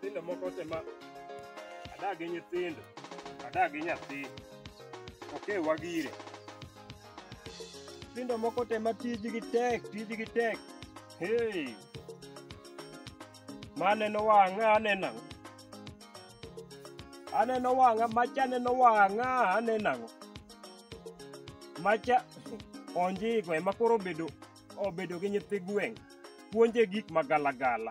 nyithindo moko te ma adak gi nyithindo adak gi nyathi oke wagire nyithindo moko te ma tijgi tek tijgi tek hey maneno wang'a aneno ang'o aneno wang'a macha aneno wang'a aneno ang'o macha onjiko ema koro obedo obedo gi nyithi gweng' puonje gik magalagala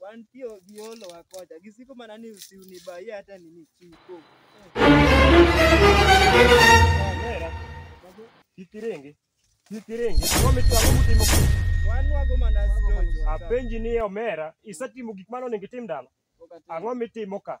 Wan pio giolo wakocha. Gisiko mana ni usiuni ba ye hata nini chiko. Mera. Kitirenge. Kitirenge. Wame tu amu timo. Wan wago mana stojo. Apenji ni omera, isetimo gik mane onego itim dala. Ang'o mitimo ka?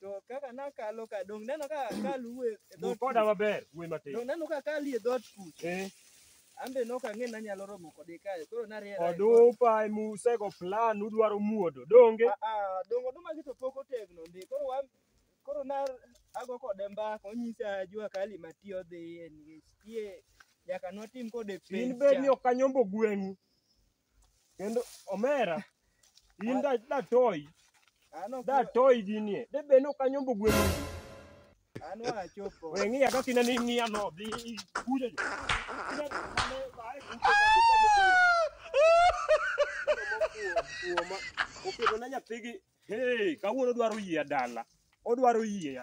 To kaka nakalo ka dong neno ka kaluwe e Wuo dhoot. koda maber, wuoi matin. Dong neno ka kali e dhoot kucha. Eh, Ambe nok ang'e nanyalo romo kode kae. Koro nariera. e dhoot. odupa emusego plan udwaro muodo, donge? Ah, ah, dong oduma gi to pok otegno ndi. Koro wan koro na ago kode mbaka onyisa jua kali matiyo dhiye nikech tie nyaka notim kode In pencha. bed ni ok anyombo gweng'u, Kendo omera in da da toy An ok da toy ginie. De be no kanyombo gwen. an wachopo. We ngiya ka kina ni ngiya no di kuja. Kina mane bae kuoma. Oketo na nyathigi. Hey, kawuono odwaro yie dala. Odwaro yie.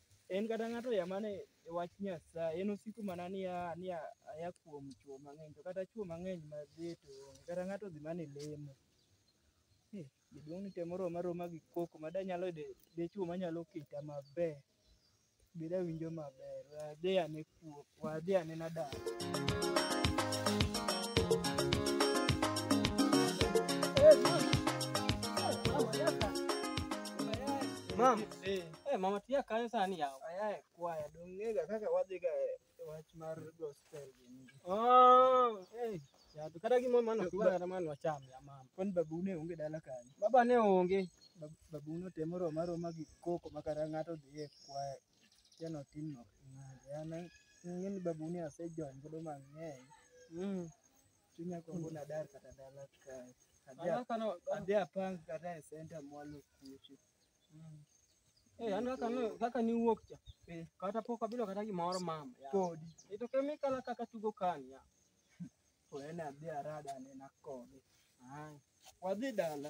En kata ng'ato ya mane e wach Nyasaye, en osiko mana ni a- ni a- aya kuom chwo mang'eny, to kata chwo mang'eny ma dhi to onge, kata ng'ato dhi mana e lemo. Eh, Jaduong' ni temo roma roma gi koko ma danyalo yudo dichwo manyalo kita maber, be dawinjo maber, we adhi ane wuok wadhi anena dala. Mam, eh, eh, mama tia kanyo sani yawa. Ayae kwaya, dong'ega kaka wadhiga e wach mar gospel gini. Oh, eh, yato kata gimo mano kiwa kata mano wacham ya mama. Kwani babu ne onge dala kanyo? Baba ne onge. Bab- Babu ne otemo roma roma gi koko ma kata ng'ato dhi e kwaya Jana otinno ng'ade. An ang'eyo ni babuni asejony godo mang'eny. Mm. Chunya gombo nadar kata dala kae. Adhi An a- kaka no- adhi apang kata e senta mwalo kucho. Mm. Eh, an kaka no- kaka niwuok cha. Eh. Kata pok abilo kata gimoro mama. ya. Podi. Ito kemikala kaka tugo kani. ya. To en adhi arada anena kode. Ai. Wadhi dala.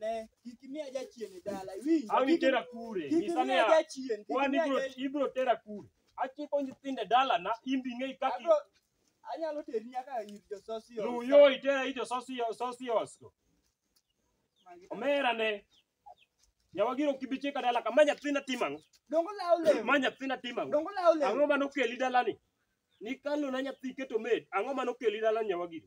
Ne, kik imiya jachien e dala. Iwinjo? Ang' Kik- itera kure. Kik Nyisa imiya niya, jachien. Kik wan imiya ibro jachien. ibro tera kure. Achiko nyithinde dalana, in bi ng'e kaki. Abro- Anyalo teri nyaka ir jososi. Lu yo itera ijo sosio sosios. Omera ne. Nyawagiro kibichika dala kama nyathina timang'. Dongo lawo lewni. Ma nyathina timang'. Dongo lawo lewni. Ang'o ma nokeli dalani? Nikalo na nyathi keto med. Ang'o ma nokeli dalani nyawagiro?